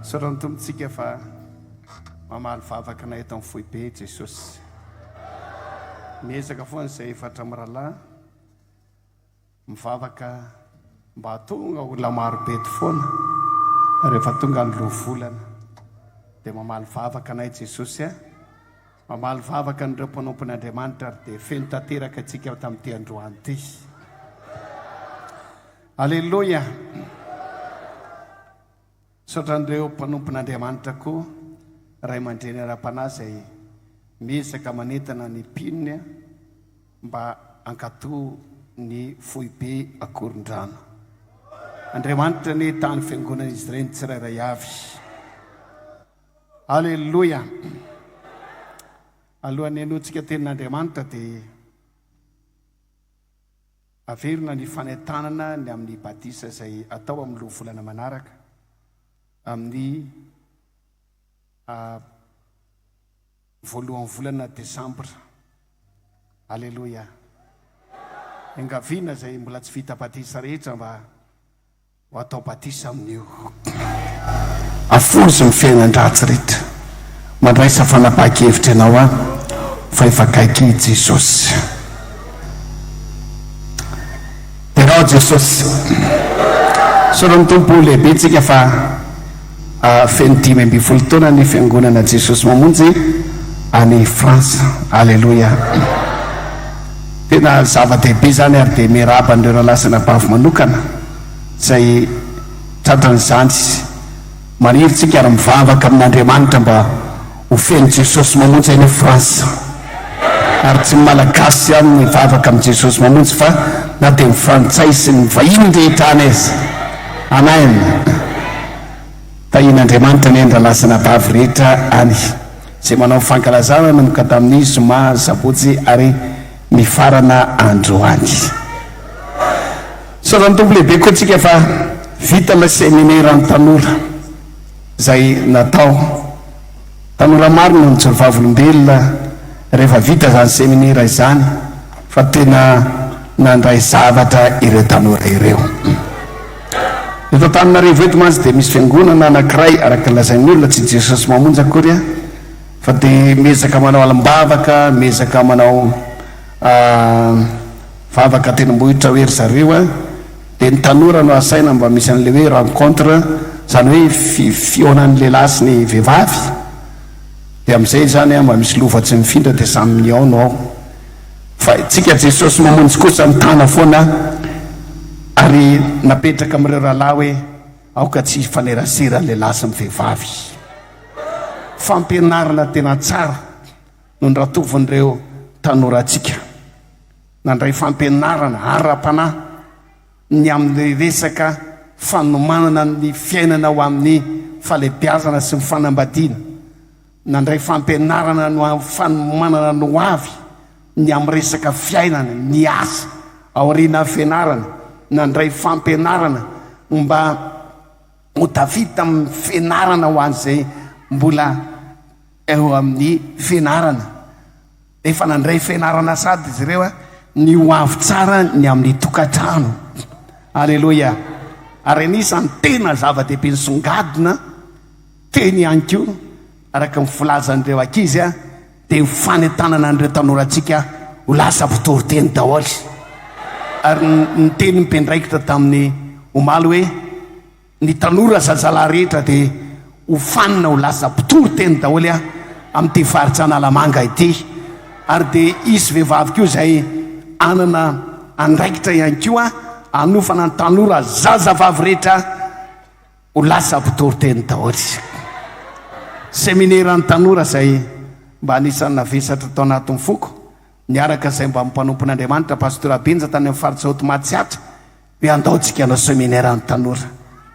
Tsoran'ny Tompontsika fa mamaly vavakanay eto amin'ny foibe i Jesosy. Miezaka foana izay efatra mirahalahy mivavaka mba hahatonga olona marobe eto foana rehefa tonga ny Loholana. Dia mamaly vavaka anay Jesosy a! Mamaly vavaka an'ireo mpanompon' Andriamanitra ary dia feno tanteraka antsika tamin'ity androany ity. Aleloia! Misaotra an'ireo mpanompon'Andriamanitra koa, ray aman-dreny ara-panahy izay miezaka manentana ny mpinony mba hankatò ny foibe Ankorondrano. Andriamanitra anie taha ny fiangonan'izy ireny tsirairay avy. Aleloia! Alohan'ny henoantsika tenin'Andriamanitra dia Averina ny fanentanana ny amin'ny badisa izay atao amin'ny roa volana manaraka amin'ny a voalohan'ny volana desambra. Aleloia! Engaviana izay mbola tsy vita badisa rehetra mba. Ho atao batisa amin'io. Afoiziny ny fiainan-dratsy rehetra. Mandraisa fanapahan-kevitra ianao an, fa efa akaiky i Jesosy. Derao Jesosy. Soranin'ny Tompo ho lehibetsika fa. Feno dimy ambin'ny folo taona ny Fiangonana Jesosy Mamonjy any France. Aleloia. Tena zava-dehibe izany ary dia miarahaba an'ireo rahalahy sy anabavy manokana izay tratran'izany. Maniry tsika ary mivavaka amin'Andriamanitra mba Ho feno Jesosy mamonjy any France ary tsy ny Malagasy ihany no hivavaka amin'ny Jesosy mamonjy fa na dia ny Frantsay sy ny vahiny rehetra any aza. Amen. Tahian'Andriamanitra anie ny rahalahy sy anabavy rehetra any izay manao ny fankalazana nanomboka tamin'ny zoma, sabotsy ary mifarana androany. Misaotra ny Tompo lehibe koa tsika fa vita ilay seminera ny tanora. izay natao. Tanora maro no nijoro vavolombelona rehefa vita izany seminera izany fa tena nandray zavatra ireo tanora ireo. Eto Antananarivo eto mantsy dia misy fiangonana anankiray araka ny lazain'ny olona, tsy Jesosy Mamonjy akory an, fa dia miezaka manao alim-bavaka, miezaka manao vavaka an-tendrombohitra hoe ry zareo an, Dia ny tanora no asaina mba misy an'ilay hoe rencontre, izany hoe fi fihaonan'ny lehilahy sy ny vehivavy, dia amin'izay izany an mba misy lova tsy mifindra dia samy mihaona ao. Fa tsika Jesosy mamonjy kosa mitana foana ary napetraka amin'ireo rahalahy hoe aoka tsy hifanerasera ny lehilahy sy ny vehivavy. Fampianarana tena tsara no nratovin'ireo tanorantsika. Nandray fampianarana ara-panahy ny amin'ny resaka fanomanana ny fiainana ho amin'ny fahalehibiazana sy ny fanambadiana. Nandray fampianarana ny fanomanana ny hoavy ny amin'ny resaka fiainana, ny asa, aoriana hafenarana. Nandray fampianarana mba ho tafita amin'ny fianarana ho an'izay mbola eo amin'ny fianarana. Efa nandray fianarana sady izy ireo ny ho avy tsara ny amin'ny tokantrano. Aleloia! Ary anisan'ny tena zava-dehibe nisongadina teny ihany koa, araka ny filazan'ireo ankizy, dia ny fanentanana an'ireo tanorantsika ho lasa mpitory teny daholo. Ary niteny ny mpiandraikitra tamin'ny omaly hoe. Ny tanora zazalahy rehetra dia ho fanina ho lasa mpitory teny daholo an, amin'ity faritra Analamanga ity. Ary dia hisy vehivavy koa izay hanana andraikitra ihany koa hanofana ny tanora zazavavy rehetra ho lasa mpitory teny daholo. Semineran'ny tanora izay mba anisan'ny navesatra tao anatin'ny foko, niaraka izay mba mpanompon'Andriamanitra, Pastora Benja tany amin'ny faritra Haute Matsiatra, dia handaontsika hanao seminaire ny tanora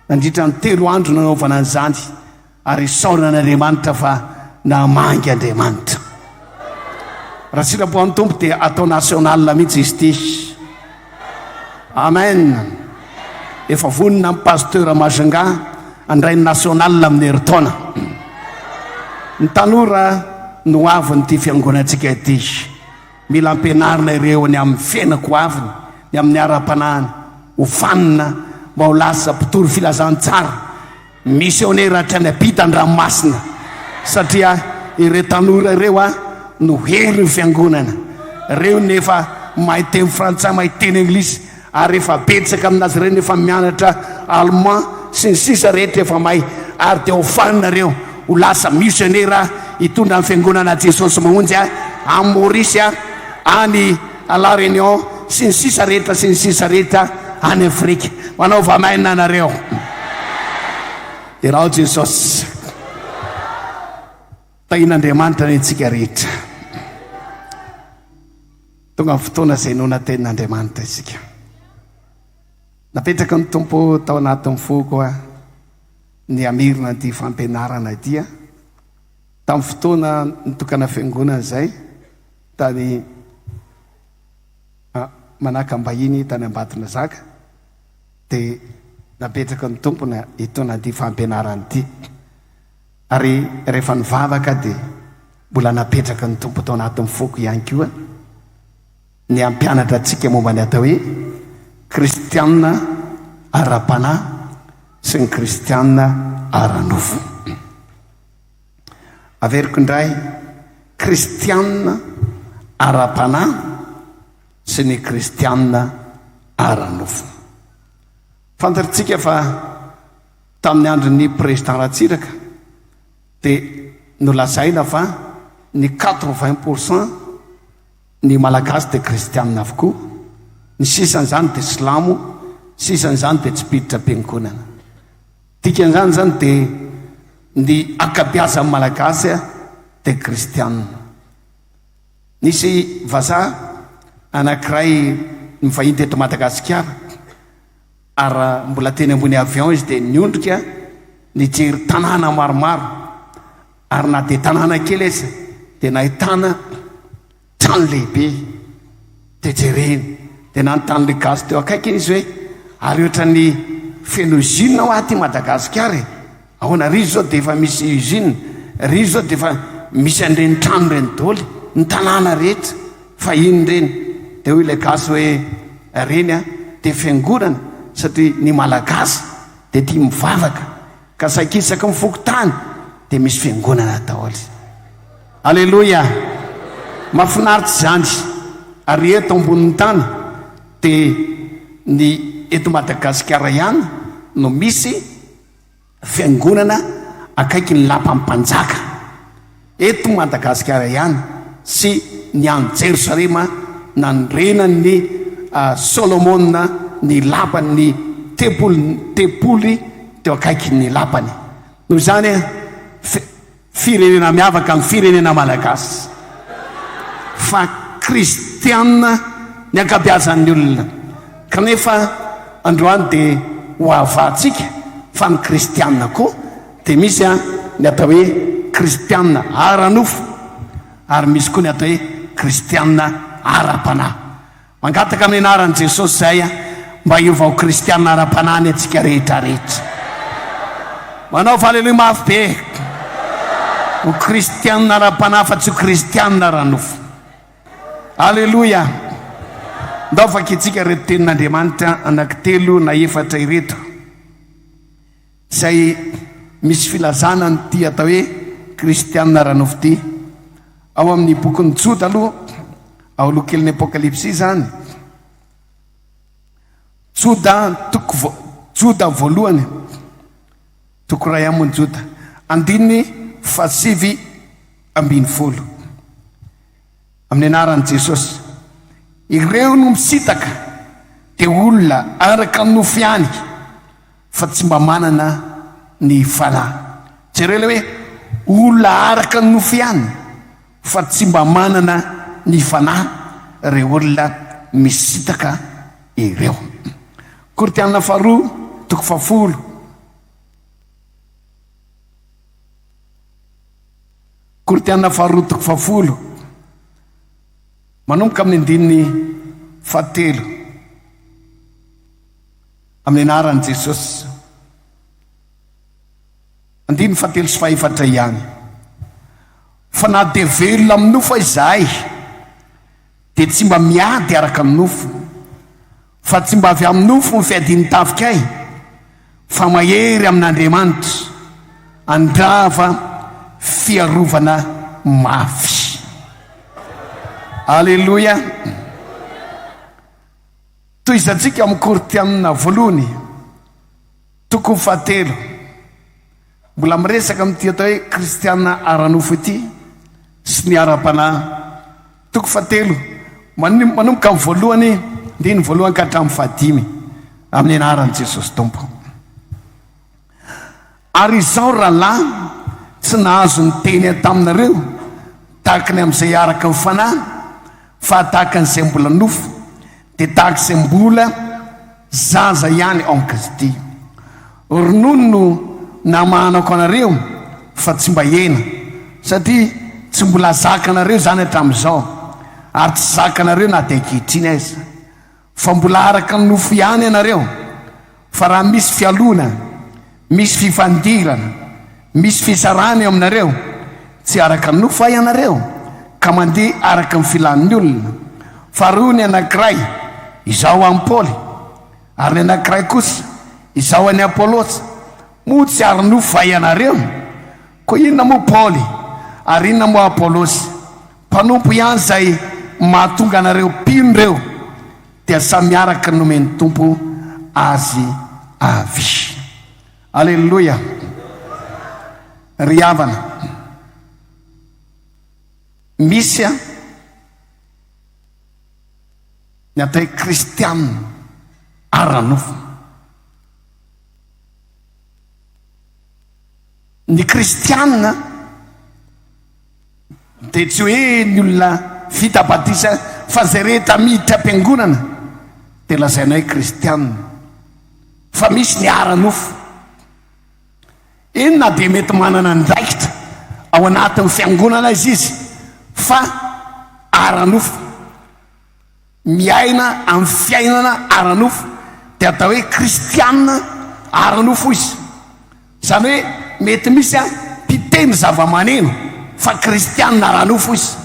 nandritra ny telo andro nanaovana an'izany ary isaorana an'Andriamanitra fa namangy Andriamanitra. Raha sitrapon'ny Tompo dia atao national mihitsy izy ity. Amen. Efa vonona ny pasteur Majunga handray ny national amin'ny herintaona. Ny tanora no avin'ity fiangonantsika ity. Mila ampianarina ireo ny amin'ny fiainako ho avy, ny amin'ny ara-panahiny, ho fanina mba ho lasa mpitory filazantsara, misionera hatrany am-pita an-dranomasina, satria ireo tanora ireo no herin'ny Fiangonana. Ireo no efa mahay teny frantsay, mahay teny anglisy, Ary efa betsaka aminazy ireny efa mianatra allemand sy ny sisa rehetra efa mahay ary dia ho fany nareo ho lasa misionera hitondra ny fiangonana Jesosy mahonjy any Maurice any à la Réunion sy ny sisa rehetra sy ny sisa rehetra any Afrika manaova amen anareo irao Jesosy tahin'Andriamanitra ny antsika rehetra. Tonga ny fotoana izay hinoana tenin'Andriamanitra isika. Napetraky ny Tompo tao anatin'ny foko ny hamerina an'ity fampianarana ity. Tamin'ny fotoana nitokana fiangonana izay, tany ah, Manakambahiny, tany Ambatondrazaka, dia napetraky ny Tompo ny hitoana an'ity fampianarana ity. Ary rehefa nivavaka dia mbola napetraka ny Tompo tao anatin'ny foko ihany koa ny hampianatra antsika momba ny atao hoe kristianina ara-panahy sy ny kristianina ara-nofo. Averiko indray, kristianina ara-panahy sy ny kristianina ara-nofo. Fantatsika fa Tamin'ny andron'ny Président Ratsiraka dia nolazaina fa ny quatre vingt pour cent ny Malagasy dia Kristianina avokoa, ny sisan'izany dia Silamo, ny sisan'izany dia tsy mpiditra piangonana. Dikan'izany izany dia ny ankabeazan'ny Malagasy dia Kristianina. Nisy vazaha anankiray nivahiny teto Madagasikara. Ary mbola teny ambony avion izy dia niondrika nijery tanàna maromaro, ary na dia tanàna kely aza dia nahitana trano lehibe, dia jereny, dia nanontany ilay gasy teo akaikiny izy hoe ary ohatran'ny feno usine hoa aty Madagasikara e! Ahoana ry zao dia efa misy usine ry zao dia efa misy an'ireny trano ireny doly ny tanàna rehetra fahiny ireny dia hoy ilay gasy hoe ireny a dia fiangonana satria ny malagasy dia tia mivavaka ka saiky isaky ny fokontany dia misy fiangonana daoly aleloia mafinaritra izany ary eto ambonin'ny tany dia ny eto madagasikara ihany no misy Fiangonana akaiky ny lapan'ny mpanjaka eto Madagasikara ihany sy ny any Jerosalema nandrenan'i Solomona ny lapan'ny tempoly teo akaikin'ny lapany. Noho izany, Firenena miavaka ny firenena malagasy fa kristiana ny ankabiazan'ny olona kanefa androany dia ho havahantsika fa ny kristiana koa dia misy ny atao hoe kristiana ara-nofo ary misy koa ny atao hoe kristiana ara-panahy. Mangataka amin'ny anaran'i Jesosy izahay an, mba hiova ho kristiana ara-panahy anie antsika rehetra rehetra. Manaova Aleloia mafy be. Ho kristiana ara-panahy fa tsy ho kristiana ara-nofo. Aleloia. Ndao vakitsika ireto tenin'Andriamanitra anankitelo na efatra ireto. izay misy filazana an'ity atao hoe kristiana ara-nofo ity. Ao amin'ny bokin'ny Joda aloha, ao aloha kelin'ny Apokalypsy izany, Joda toko vo, Joda voalohany, toko iray ambin'ny Joda, andininy fahasivy ambin'ny folo. Amin'ny anaran'i Jesosy. Ireo no misitaka dia olona araka ny nofo ihany fa tsy mba manana ny fanahy. Jereo ilay hoe olona araka ny nofo ihany fa tsy mba manana ny fanahy ireo olona misitaka ireo. Korintianina faharoa toko fahafolo. Korintiana faharoa toko fahafolo, manomboka amin'ny andininy fahatelo, amin'ny anaran'i Jesosy. Andininy fahatelo sy fahefatra ihany. Fa na dia velona amin'ny nofo aza izahay, dia tsy mba miady araka ny nofo, Fa tsy mba avy amin'ny nofo ny fiadian'ny tafikay, fa mahery amin'Andriamanitra, handrava fiarovana mafy. Aleloia! Tohizantsika amin'ny Korintianina voalohany, toko fahatelo. Mbola miresaka amin'ity atao hoe kristiana ara-nofo ity sy ny ara-panahy. Toko fahatelo manomboka amin'ny voalohany andininy voalohany ka hatramin'ny fahadimy amin'ny anaran'i Jesosy Tompo. Ary izaho rahalahy tsy nahazo niteny taminareo tahaka ny amin'izay araka ny fanahy fa tahaka an'izay mbola nofo, Dia tahaka izay mbola zaza ihany en Kristy. Ronono no namahanako anareo fa tsy mba hena, satria tsy mbola zakanareo izany hatramin'izao, ary tsy zakanareo na dia ankehitriny aza. Fa mbola araka ny nofo ihany ianareo. Fa raha misy fialonana, misy fifandirana, misy fisarahana eo aminareo, tsy araka ny nofo va ianareo, ka mandeha araka ny filan'ny olona? Fa roa ny anankiray, izao an'i Paoly, ary ny anankiray kosa, izao an'i Apolosy. Moa tsy ara-nofo va ianareo? Koa inona moa Paoly, ary inona moa Apolosy? Mpanompo ihany izay mahatonga anareo mpino ireo. Dia samy araka ny nomen'ny Tompo azy avy. Aleloia! Ry havana, misy an, ny atao hoe kristiana ara-nofo. Ny kristiana. Dia tsy hoe ny olona vita batisa fa izay rehetra miditra am-piangonana dia lazaina hoe kristiana, fa misy ny ara-nofo. Eny, na dia mety manana andraikitra ao anatin'ny fiangonana aza izy fa ara-nofo. Miaina amin'ny fiainana ara-nofo dia atao hoe kristiana ara-nofo izy. Izany hoe mety misy an, mpiteny zava-maneno fa kristiana ara-nofo izy.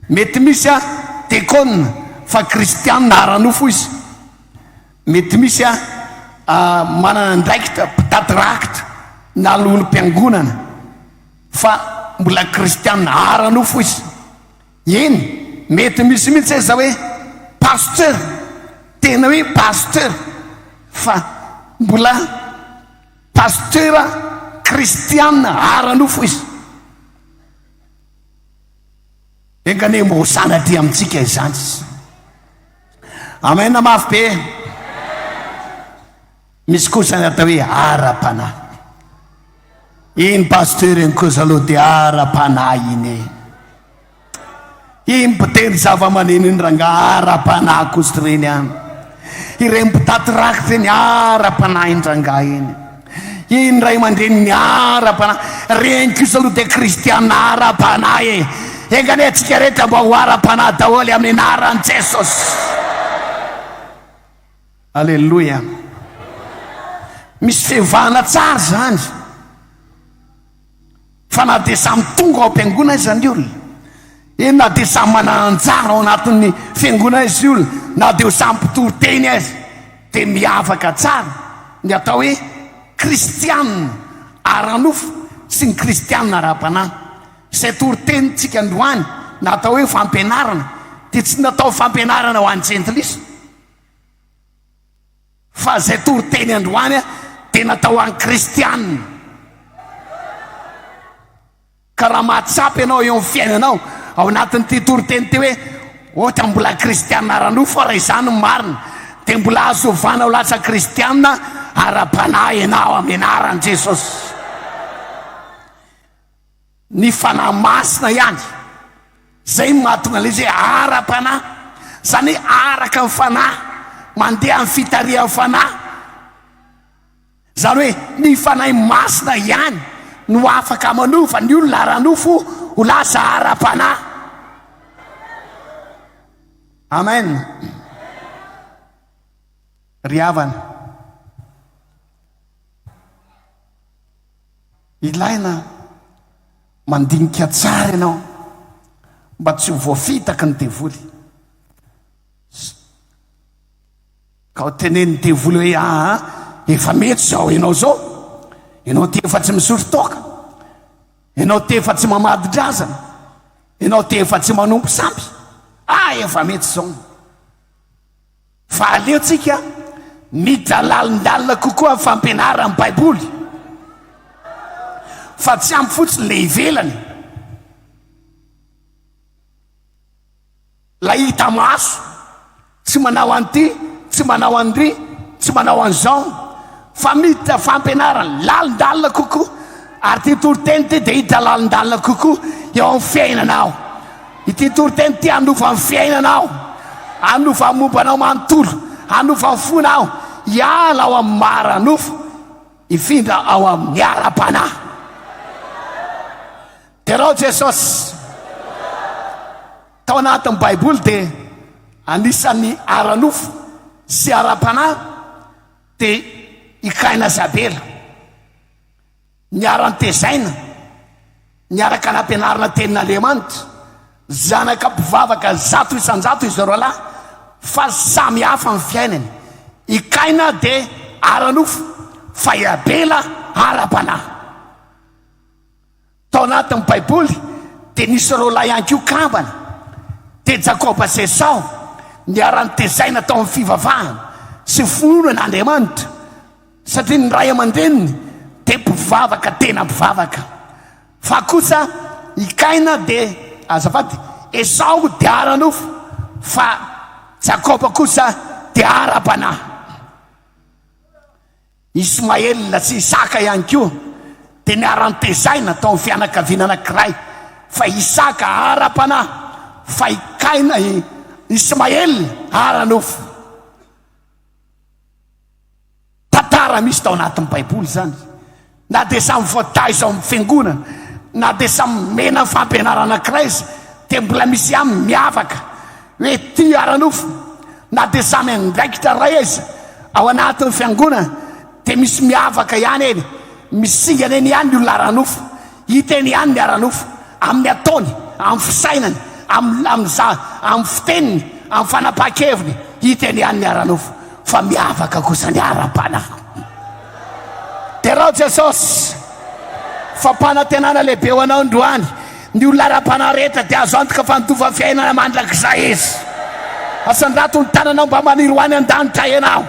Mety misy an, dekona fa kristiana ara-nofo izy. Mety misy an, manana andraikitra, mpitady rakitra na lohim-piangonana fa mbola kristiana ara-nofo izy. Eny, mety misy mihitsy aza hoe pasteur, tena hoe pasteur, fa mbola pasteur kristiana ara-nofo izy. Enga anie mba ho sanatria amintsika izany. Amen mafy be. Misy koa izany atao hoe ara-panahy. Iny pasteur iny kosa aloha dia ara-panahy iny e. Iny mpitendry zavamaneno iny rangaha ara-panahy kosa ireny an. Ireny mpitaty raka ireny ara-panahy iny rangaha iny. Iny ray aman-dreny ny ara-panahy. Ireny kosa aloha dia kristiana ara-panahy e. Enganie antsika rehetra mba ho ara-panahy daholo amin'ny anaran'i Jesosy. Aleloia! Misy fiovana tsara izany. Fa na dia samy tonga ao am-piangonana iza ny olona, eny na dia samy manana anjara ao anatin'ny fiangonana izy olona, na dia ho samy mpitory teny aza, dia miavaka tsara ny atao hoe kristianina ara-nofo sy ny kristianina ara-panahy. Izay toritenintsika androany na atao hoe fampianarana dia tsy natao fampianarana ho an'ny jentilisa. Fa izay toriteny androany dia natao ho an'ny kristiana. Ka raha mahatsapa ianao eo amin'ny fiainanao, ao anatin'ity toriteny ity hoe, ohatra mbola kristiana ara-nofo aho raha izany no marina, dia mbola azo ovana ho lasa kristiana ara-panahy ianao amin'ny anaran'i Jesosy. Ny Fanahy Masina ihany izay no mahatonga an'ilay izy hoe ara-panahy, izany hoe araka ny Fanahy, mandeha amin'ny fitarihan'ny Fanahy. Izany hoe ny Fanahy Masina ihany no afaka manova ny olona ara-nofo ho lasa ara-panahy. Amen. Ry havana. Ilaina mandinika tsara ianao mba tsy ho voafitaky ny devoly. Ka ho tenenin'ny devoly hoe aa, efa mety izao ianao izao, ianao ty efa tsy misotro toaka, ianao ty efa tsy mamadi-drazana, ianao ty efa tsy manompo sampy, ah efa mety izao. Fa aleontsika midalalindalina kokoa amin'ny fampianaran'ny Baiboly, fa tsy ampy fotsiny ilay ivelany, ilay hita maso, tsy manao an'ity, tsy manao an'iry, tsy manao an'izao. Fa miditra fampianarana lalindalina kokoa, ary ity toriteny ity dia hiditra lalindalina kokoa eo amin'ny fiainanao. Ity toriteny ity hanova ny fiainanao, hanova ny momba anao manontolo, hanova ny fonao, hiala ao amin'ny mara-nofo, hifindra ao amin'ny ara-panahy. Derao Jesosy. Tao anatin'ny Baiboly dia anisan'ny ara-nofo sy ara-panahy Dia i Kaina sy Abela, niara-nitezaina, niaraka nampianarina tenin'Andriamanitra, zanaka mpivavaka zato isan-jato izy roalahy, fa samy hafa ny fiainany. I Kaina dia ara-nofo, fa i Abela ara-panahy. Tao anatin'ny Baiboly dia nisy roalahy ihany koa kambana, dia Jakoba sy Esao, niara-nitezaina tao amin'ny fivavahana sy finoana an' Andriamanitra, satria ny ray aman-dreniny dia mpivavaka tena mpivavaka. Fa kosa i Kaina dia, azafady, Esao dia ara-nofo, fa Jakoba kosa dia ara-panahy. Ismael sy Isaka ihany koa dia niharan-tezaina tao amin'ny fianakaviana anankiray, fa Isaka ara-panahy, fa i Kaina, i Ismael ara-nofo. Tantara misy tao anatin'ny Baiboly izany. Na dia samy voataiza ao amin'ny fiangonana, na dia samy nomena fampianarana Kraisy, dia mbola misy ihany miavaka hoe tia ara-nofo. Na dia samy andraikitra iray aiza ao anatin'ny fiangonana, dia misy miavaka ihany eny, misingana eny ihany ny olona ara-nofo. Hita eny ihany ny ara-nofo, amin'ny ataony, amin'ny fisainany, amin'ny amin'ny za, amin'ny fiteniny, amin'ny fanapahan-keviny, hita eny ihany ny ara-nofo. Fa miavaka kosa ny ara-panahy. Derao Jesosy fa mpanantenana lehibe ho anao androany. Ny olona ara-panahy rehetra dia azo antoka fa handova fiainana mandrakizay izy. Asandrato ny tananao mba maniry ho any an-danitra ianao.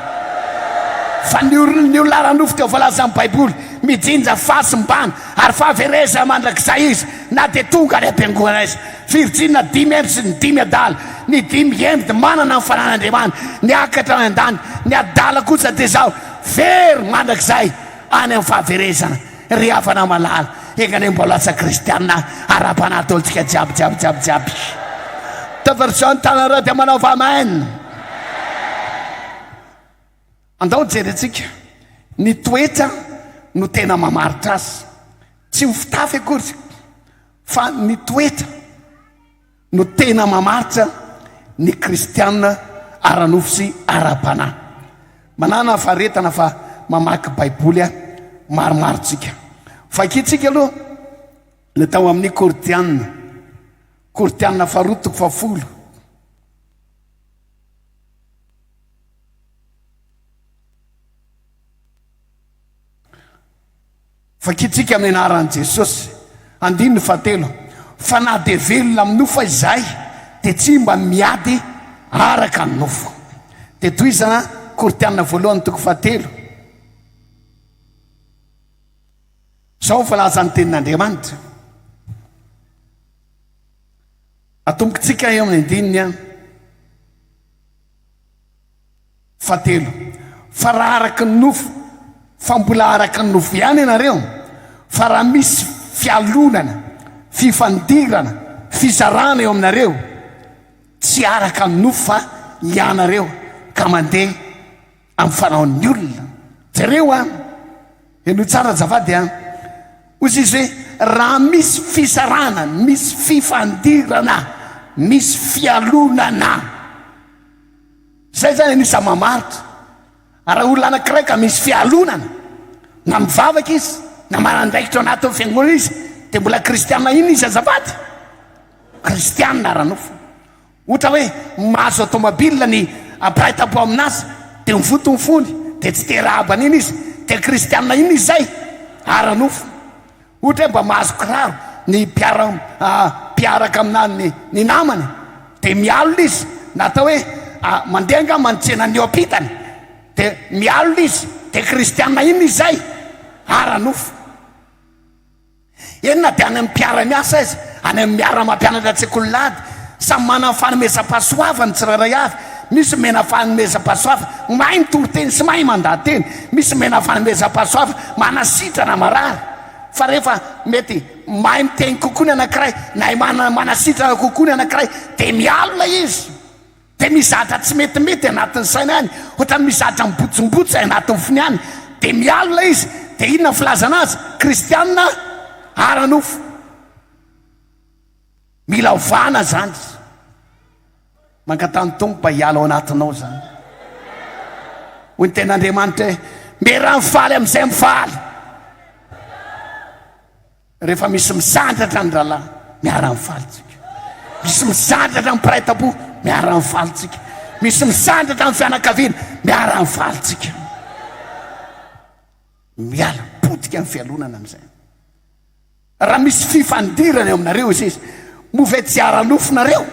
Fa ny orin'ny olona ara-nofo dia voalazan'ny Baiboly, mijinja, fahasimbana, ary fahaverezana mandrakizay izy na dia tonga any am-piangonana izy. Virjinina dimy heny sy ny dimy adala. Ny dimy heny dia manana ny fanan'Andriamanitra, ny akatra any an-danitra. Ny adala kosa dia izao, Very mandrakizay any amin'ny fahaverezana ry havana malala, enga anie mba lasa kristiana ara-panahy daholo tsika jiaby jiaby jiaby jiaby. Taversion ny tananareo dia manaova amen. Andao jerentsika ny toetra no tena mamaritra azy, tsy ho fitafy akory fa ny toetra. no tena mamaritra ny kristiana ara-nofo sy ara-panahy. Manana faharetana fa mamaky Baiboly maromaro tsika. Vakintsika aloha ny tao amin'ny Korintiana, Korintiana faharoa toko fahafolo. Vakintsika amin'ny anaran'i Jesosy. Andininy fahatelo, Fa na dia velona amin'ny nofo aza izahay, dia tsy mba miady araka ny nofo. Dia tohizana Korintiana voalohany toko fahatelo. Izao voalaza ny tenin'Andriamanitra. Atombokintsika eo amin'ny andininy Fahatelo, fa raha araka ny nofo, fa mbola araka ny nofo ihany ianareo, fa raha misy fialonana, fifandirana, fizarana eo aminareo, tsy araka ny nofo fa ianareo ka mandeha amin'ny fanaon'ny olona. Jereo an! Henoy tsara azafady an! Hoy izy hoe, raha misy fizarana, misy fifandirana, misy fialonana. Izay izany anisany mamaritra. Ary raha olona anankiray ka misy fialonana, na mivavaka izy, na manandraikitra ao anatin'ny fiangonana izy, dia mbola kristiana inona izy azafady? Kristiana ara-nofo. Ohatra hoe mahazo atomabila ny mpiray tampo amin'azy, dia mivoto ny fony, dia tsy te-rahaba an'iny izy, dia kristiana inona izy izay? Ara-nofo. Ohatra hoe mba mahazo kiraro ny mpiara mpiaraka aminà ny namany dia mialona izy na atao hoe mandeha angamba ny tsenan'ny eo ampitany dia mialona izy dia kristiana inona izay? ara nofo eny na dia any amin'ny mpiara miasa aiza any amin'ny miara mampianatra an-tsekoly lahady samy manana ny fanomezam-pahasoavany ny tsirairay avy Misy mena fanomezam-pahasoava mahay mitoriteny sy mahay mandateny. Misy mena fanomezam-pahasoava manasitrana marary. Fa rehefa mety mahay miteny kokoa ny anankiray, nahay mana, manasitrana kokoa ny anankiray, dia mialona izy. Dia mizatra tsy metimety anatin'ny sainy any, ohatran'ny mizatra mibotsimbotsy anatin'ny fony any. Dia mialona izy. Dia inona ny filazana azy? Kristiana ara-nofo. Mila ovana zany. Mangatany Tompo mba hiala ao anatinao zany. Hoy ny ten'Andriamanitra hoe mera mifaly amin'izay mifaly. Rehefa misy misandratra ny rahalahy, miara mifaly tsika. Misy misandratra ny mpiray tampo, miara mifaly tsika. Misy misandratra ny fianakaviana, miara mifaly tsika. Miala potika ny fialonana amin'izay. Raha misy fifandirana eo aminareo izy izy, moa ve tsy ara-nofonareo?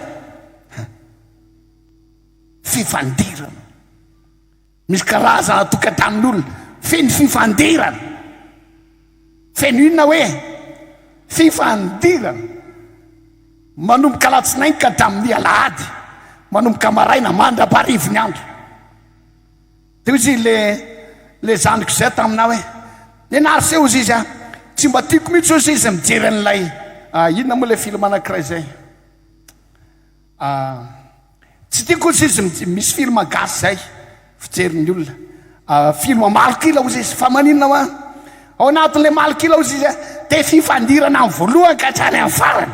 Fifandirana. Misy karazana tokantanon'olona feno fifandirana. Feno inona hoe fifandirana. Manomboka alatsinainy ka hatramin'ny alahady, manomboka maraina mandra-paharivin'ny andro. Dia hoy izy le le zandriko izay taminah hoe, Nenary se ozy izy an! Tsy mba tiako mihitsy ozy izy mijery an'ilay ah inona moa ilay film anankiray izay ah tsy tiako ozy izy mij misy film gasy izay fijerin'ny olona ah film malok'ila ozy izy fa maninona hoa ao anatin'ilay malok'ila ozy izy an dia fifandirana amin'ny voalohany ka hatrany amin'ny farany.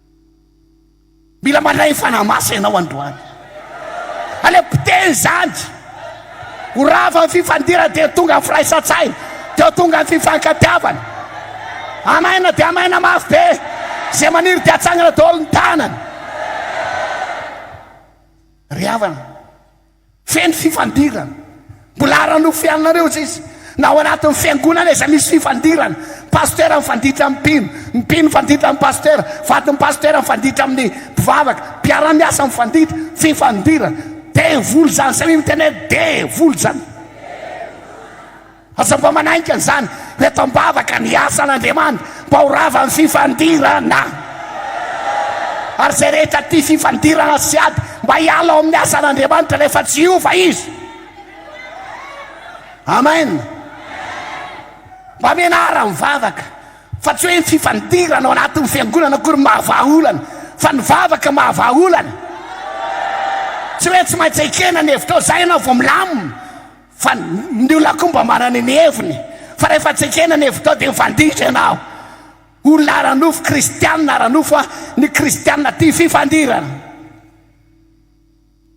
Mila mandray fanahy masina ianao androany. Aleo potehy izany. Ho rava ny fifandirana dia tonga firaisan-tsaina, dia tonga ny fifankatiavana. Amaina dia amaina mafy be. Izay maniry dia atsangana daholo ny tanany. Ry havana, Feno fifandirana. Mbola ara-nofeanareo izy izy. Na ao anatin'ny fiangonana aza misy fifandirana. Pasitera mifanditra amin'ny mpino, ny mpino mifanditra amin'ny pasitera, vadin'ny pasitera mifanditra amin'ny mpivavaka, mpiara-miasa mifanditra. Fifandirana. Devoly izany. Samia miteny hoe, Devoly izany. Aza mba manaiky an'izany ry eto am-bavaka ny asan'Andriamanitra mba ho rava ny fifandirana. Ary izay rehetra tia fifandirana sy ady mba hiala ao amin'ny asan'Andriamanitra rehefa tsy hiova izy. Amen. Mba mianara mivavaka fa tsy hoe ny fifandirana ao anatin'ny fiangonana akory no mahavaha olana fa ny vavaka mahavaha olana. Tsy hoe tsy maintsy ekena ny hevitrao izay ianao vao milamina. Fa ny olona koa mba manana ny heviny fa rehefa tsy ekena ny hevitao dia mifanditra ianao. Olona ara-nofo, kristianina ara-nofo an, ny kristianina tia fifandirana.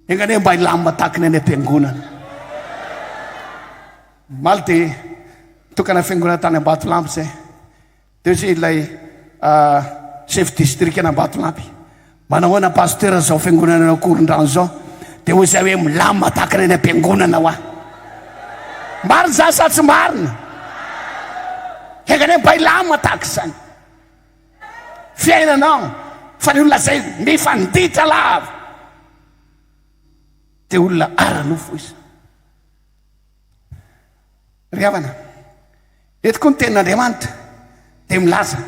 Enga anie mba hilamina tahaka ny any am-piangonana. Omaly dia nitokana fiangonana tany Ambatolampy izay. Teo izay ilay chef distrikan'Ambatolampy, manahoana pasteur izao fiangonana any Ankorondrano izao, dia hoy izay hoe milamina tahaka ny any am-piangonana hoa. Marina izany sa tsy marina? Enga anie mba hilamina tahaka izany fiainana an, fa ny olona izay mifanditra lava dia olona ara-nofo izany. Ry havana, eto koa ny Tenin'Andriamanitra dia milaza,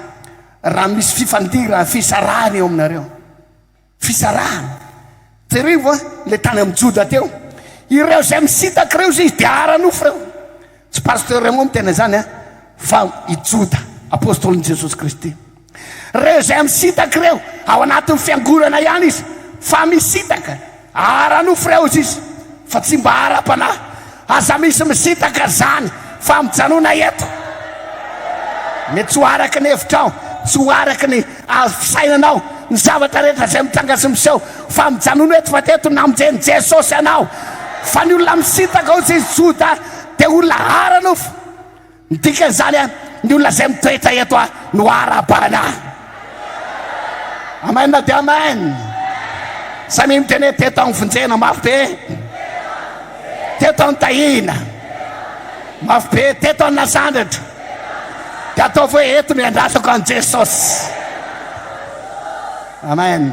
Raha misy fifandirana, fisarahana eo aminareo. Fisarahana. Jereo va ilay tany amin'ny Joda teo? Ireo izay misintaka ireo izy dia ara-nofo ireo. Tsy Pasteur Raymond miteny an'izany an, fa i Joda, Apostolon'i Jesosy Kristy. Ireo izay misintaka ireo, ao anatin'ny fiangonana ihany izy, fa misintaka, ara-nofo ireo hoy izy, fa tsy mba ara-panahy. Aza misy misintaka izany, fa mijanona eto. Mety tsy ho araka ny hevitrao, tsy ho araka ny fisainanao ny zavatra rehetra izay mitranga sy miseho, fa mijanona eto, fa teto namonjen'i Jesosy anao. Fa ny olona misintaka hoy izy, Joda, dia olona ara-nofo. Ny dikan'izany an, ny olona izay mitoetra eto an no arahabana. Amen dia amen. Samia miteny hoe teto anivonjena mafy be. Teto anitahina. Mafy be teto anasandratra. Dia ataovy hoe eto no iandrasako an'i Jesosy. Amen.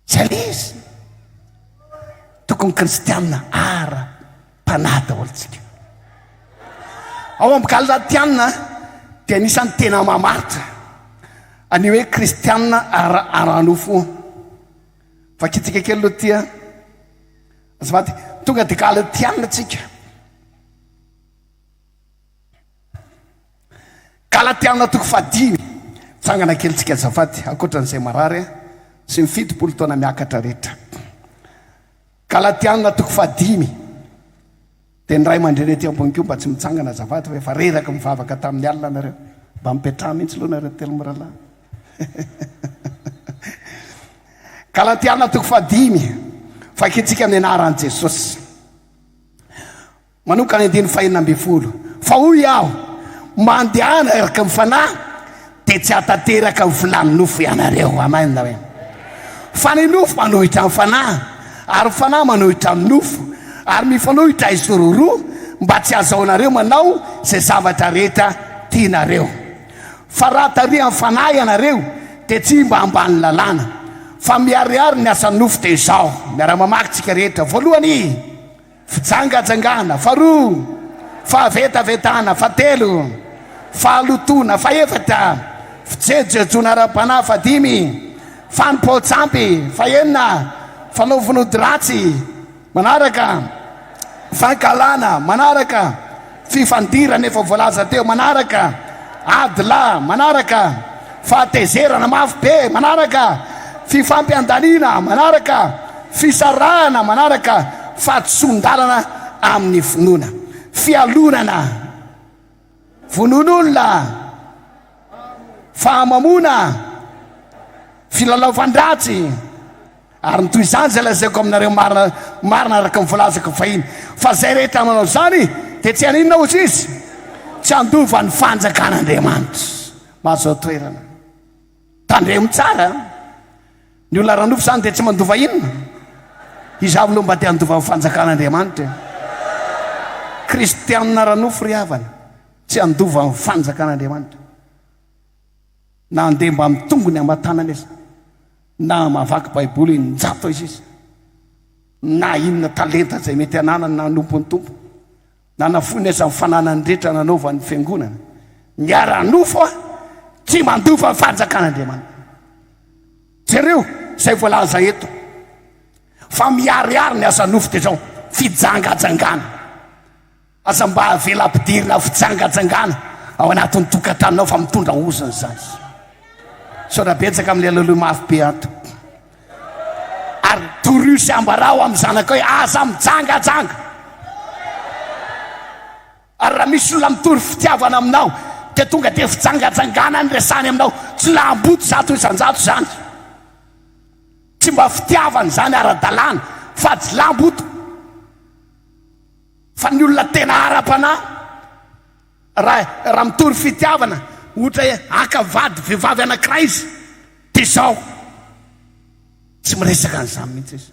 Tsy anisy. Tokony kristiana ara panahy daholo tsika. Ao amin'ny galatiana dia anisan'ny tena mamaritra an'io hoe kristiana ara ara nofo. Vakitsika kely aloha tia. Azafady, tonga dia galatiana tsika. Galatiana toko fahadimy. Tsangana kely tsika azafady, ankoatran'izay marary a, sy ny fitopolo taona miakatra rehetra. Galatiana toko fahadimy. Dia ny ray aman-dreny ety ambony koa mba tsy mitsangana azafady fa efa reraka mivavaka tamin'ny alina nareo. Mba mipetraha mihitsy loha nareo telo mirahalahy. Galatiana toko fahadimy. Vakintsika ny anaran'i Jesosy. Manoka ny andininy fahenina ambin'ny folo, Fa hoy aho, Mba handehana araka ny fanahy, dia tsy hahatanteraka ny filàn'ny nofo ianareo. Amen. Fa ny nofo manohitra ny fanahy, ary ny fanahy manohitra ny nofo, ary mifanohitra izy roroa, mba tsy hahazahoanareo manao izay zavatra rehetra tianareo. Fa raha tarihan'ny fanahy ianareo, dia tsy mba ambanin'ny lalàna. Fa miharihary ny asan'ny nofo dia izao, miara-mamaky isika rehetra, voalohany. Fijangajangana, faharoa, fahavetavetana, fahatelo, fahalotoana, fahefatra, fijejojejoana ara-panahy, fahadimy, fanompoan-tsampy, fahenina, fanao vonodi-ratsy, manaraka, fankahalana, manaraka. Fifandirana efa voalaza teo manaraka, ady lahy manaraka, fahatezerana mafy be manaraka, fifampiandaniana manaraka, fisarahana manaraka, fahadisoan-dalana amin'ny finoana, fialonana, vonoan'olona, fahamamoana, filalaovan-dratsy, ary ny toy izany izay lazaiko aminareo marina marina araka ny voalazako fahiny fa izay rehetra manao izany dia tsy haninona hozy izy? tsy handova ny fanjakan'Andriamanitra mazao toerana tandremo tsara ny olona ranofo izany dia tsy mandova inona izavo loha mba te handova ny fanjakan'Andriamanitra kristianina ranofo ry havana Tsy handova ny fanjakan'Andriamanitra, na handeha mbamin'ny tongony aman-tanany aza, na hamaky Baiboly eninjato aiza izy, na inona talenta izay mety hananany na hanompo ny Tompo, na hanafoiny aza ny fananany rehetra nanaovany ny Fiangonana. Ny ara-nofo tsy mandova ny fanjakan'Andriamanitra. Jereo izay voalaza eto fa miharihary ny asa-nofo dia izao, fijangajangana. Aza mba avela ampidirina fijangajangana ao anatin'ny tokantranonao fa mitondra ozona izany. Misaotra betsaka amin'ilay laloha mafy be ato. Ary toroy sy ambarao amin'ny zanakao hoe aza mijangajanga. Ary raha misy olona mitory fitiavana aminao dia tonga dia fijangajangana ny resany aminao. Tsy laham-boto zato isan-jato izany. Tsy mba fitiavana izany ara-dalàna fa jilam-boto. Fa ny olona tena ara-panahy, raha raha mitory fitiavana, ohatra hoe haka vady vehivavy anankiray izy, dia izao, tsy miresaka an'izany mihitsy izy.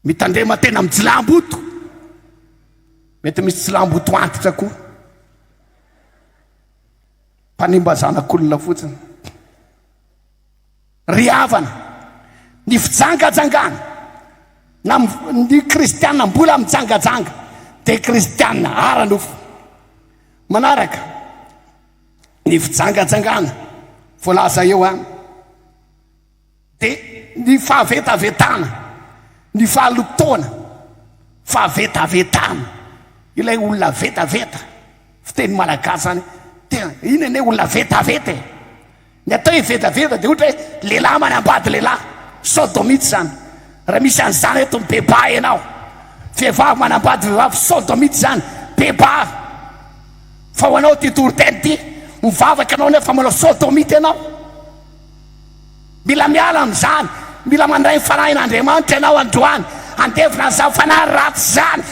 Mitandrema tena amin'ny jilamboto. Mety misy jilamboto antitra koa. Mpanimba zanak'olona fotsiny. Ry havana, ny fijangajangana, na ny kristiana mbola mijangajanga, dia kristiana ara-nofo. Manaraka ny fijangajangana voalaza eo an, dia ny fahavetavetana, ny fahalotoana, fahavetavetana, ilay olona vetaveta, fiteny malagasy izany, tena, iny anie olona vetaveta e! Ny atao hoe vedaveda dia ohatra hoe lehilahy manambady lehilahy, sodomite zany. Raha misy an'izany eto mibebaha ianao. Vehivavy manambady vehivavy, sodomite zany. Bebaha. Fa ho anao ty toriteny ty, mivavaka ianao nefa manao sodomite ianao. Mila miala amin'izany, mila mandray ny fanahin'Andriamanitra ianao androany, andevina an'izany fanahy ratsy izany.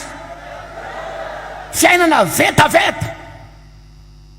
Fiainana vedaveda.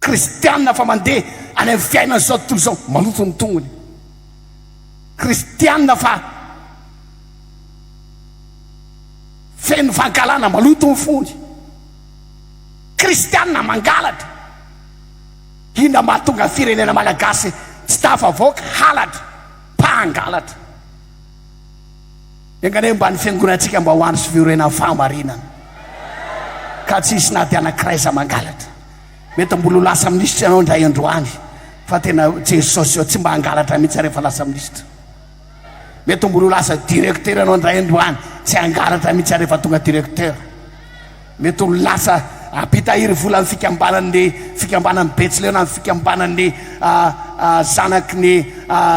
Kristiana fa mandeha any amin'ny fiainan'izao tontolo izao maloto ny tongony. Kristiana fa feno fankahalana maloto ny fony. Kristiana mangalatra. Inona mahatonga ny firenena malagasy tsy tafavoaka? Halatra, mpangalatra. Enga anie mba ny fiangonantsika mba ho andro sy fiorenan'ny fahamarinana ka tsy hisy na dia anankiray aza mangalatra. Mety mbola ho lasa minisitra ianao indray andro any fa tena Jesosy ô tsy mba hangalatra mihitsy rehefa lasa minisitra. Mety mbola ho lasa directeur ianao indray andro any tsy hangalatra mihitsy rehefa tonga directeur. Mety ho lasa mpitahiry volan'ny fikambanan'ny fikambanan'ny Betsileo na ny fikambanan'ny zanaky ny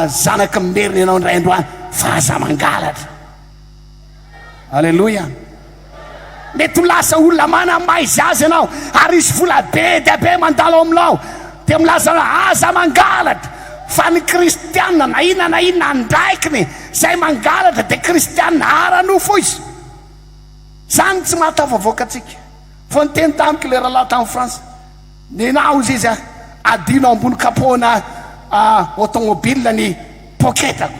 zanaky ny Merina ianao indray andro any fa aza mangalatra. Aleloia. Mety ho lasa olona manana maizy azy ianao ary hisy vola be dia be mandalo ao aminao dia milaza anao aza mangalatra fa ny kristianina na inona na inona andraikiny izay mangalatra dia kristianina ara-nofo izy. Zany tsy mahatafavoaka antsika. Vao niteny tamiko ilay rahalahy tany France, nenao izy izy aho, adino ao ambony kapoana automobile ny poketako.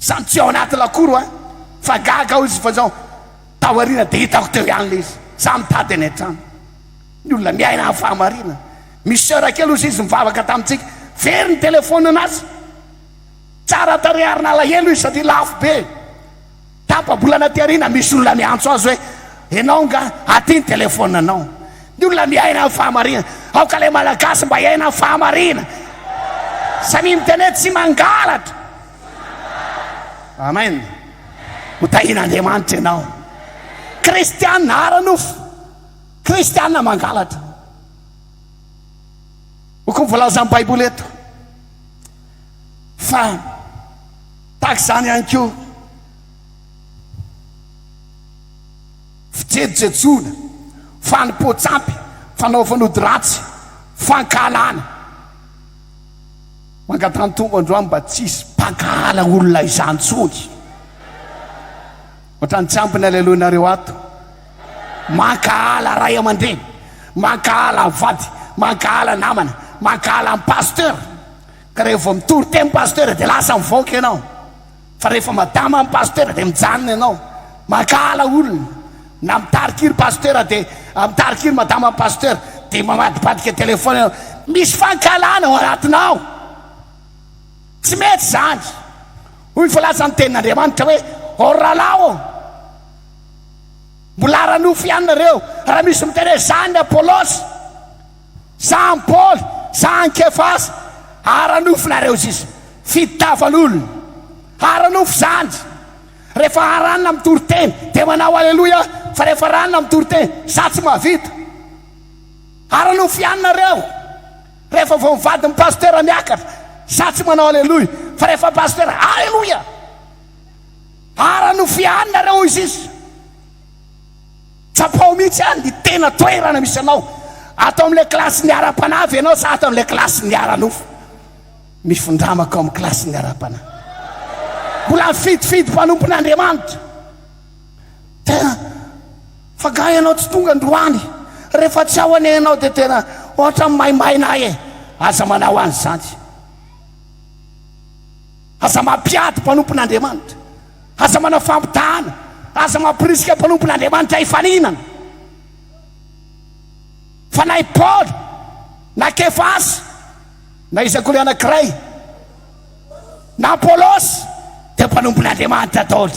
Zany tsy ao anaty lakoro aho fa gaga aho izy fa zao tao aoriana dia hitako teo ihany ilay izy. Za mitady any an-trano. Ny olona miaina amin'ny fahamarinana. Misy soeur kely ozy izy nivavaka tamintsika, very ny telephone-n'azy. Tsara tarehy ary nalahelo izy satria lafo be. Tapa-bolana aty aoriana misy olona niantso azy hoe, Ianao nga? Aty ny telefaoninanao. Ny olona miaina ny fahamarinana. Aoka ilay Malagasy mba hiaina ny fahamarinana. Samia miteny hoe, Tsy mangalatra. Amen. Ho tahian'Andriamanitra ianao. Kristiana ara-nofo. Kristiana mangalatra. Hoka ny voalazan'ny Baiboly eto. Fa Tahaka izany ihany koa, fijejojejoana, fanompoan-tsampy, fanao fanody ratsy, fankahalana. Mangatahan-tombo androany mba tsy hisy mpankahala olona izany intsony. Ohatran'ny tsy ampy ny aleloianareo ato. Mankahala ray aman-dreny, mankahala vady, mankahala namana, mankahala ny pasteur. Ka rehefa vao mitory teny pasteur dia lasa mivaoka ianao fa rehefa madama ny pasteur dia mijanona ianao mankahala olona na mitarika iry pasteur dia mitarika iry madama ny pasteur dia mamadibadika téléphone ianao misy fankahalana ao anatinao tsy mety izany hoy ny filaza ny tenin'Andriamanitra hoe ô rahalahy ô mbola ara-nofo ihany nareo raha misy miteny hoe zany Apolosy Zany Paoly, zany Kefasy, ara-nofo nareo sisa, fitiavan'olona, ara-nofo zany, rehefa aranina mitory teny dia manao aleloia fa rehefa ranona mitory teny za tsy mahavita, ara-nofo ihany nareo, rehefa vao mivady ny pasitera miakatra za tsy manao aleloia fa rehefa pasitera aleloia, ara-nofo ihany nareo hoy sisa. Tsapao mihitsy any ny tena toerana misy anao. Ato amin'ilay kilasin'ny ara-panavy ianao sa ato amin'ilay kilasin'ny ara-nofo? Mifindramako amin'ny kilasin'ny ara-panahy. Mbola mifidifidy mpanompon'Andriamanitra. Tena, fa nga ianao tsy tonga androany? Rehefa tsy ao anie ianao dia tena ohatran'ny maimaina ahy e! Aza manao an'izany. Aza mampiady mpanompon'Andriamanitra. Aza manao fampitahana. Aza mamporisika mpanompon'Andriamanitra hifaninana. Fanahy Paoly na Kefasy na iza koa ilay anankiray na Apolosy dia mpanompon'Andriamanitra daholo.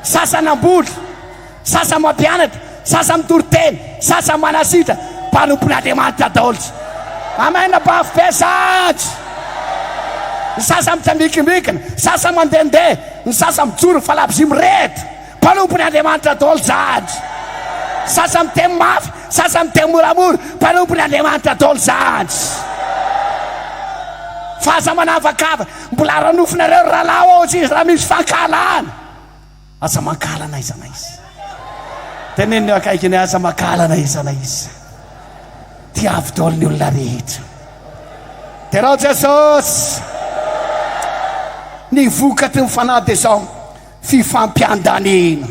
Sasany namboly. Sasany mampianatra, sasany mitory teny, sasany manasitra, mpanompon'Andriamanitra daols. Amen bafo be sats. Ny sasany mitsambikimbikina, sasany mandehandeha, ny sasany mijoro fa labozia mirehitra, mpanompon'i Andriamanitra daoly zany. Sasany miteny mafy, sasany miteny moramora, mpanompon'i Andriamanitra daoly zany. Fa aza manavakavaka, mbola ara-nofonareo ry rahalahy ô, tsy izy raha misy fankahalana. Aza mankahala n'aiza n'aiza. Teneno ny eo akaikiny hoe, Aza mankahala n'aiza n'aiza. Tiavo daholo ny olona rehetra. Derao Jesosy! Ny vokatry ny Fanahy dia izao, fifampiandaniana,